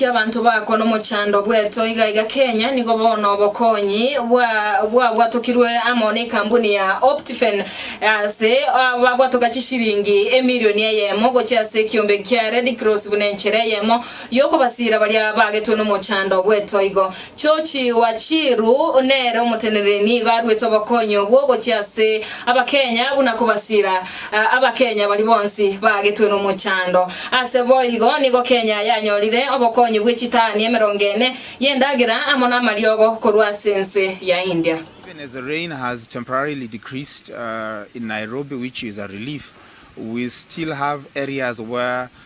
Kiabanto bako nomochando bweto iga iga Kenya nigo bono obokonyi bwa bwabwatokirwe amo nekambuni ya Optifen ase babwatoka chishiringi emirioni eyemo gochia ase ekiombe kia Red Cross buna enchera eyemo yokobasira baria baagetwe nomochando bweto igo Chochigwa Chiru nere omoteneneri nigo aruete obokonyi obwo gochia ase Abakenya buna kobasira Abakenya baria bonsi baagetwe nomochando. Ase boigo nigo Kenya yanyorire obokonyi bwe chitaani emerongo ene y'endagera amo namariogo korwa ase ense ya India. Even as the rain has temporarily decreased in Nairobi which is a relief, we still have areas where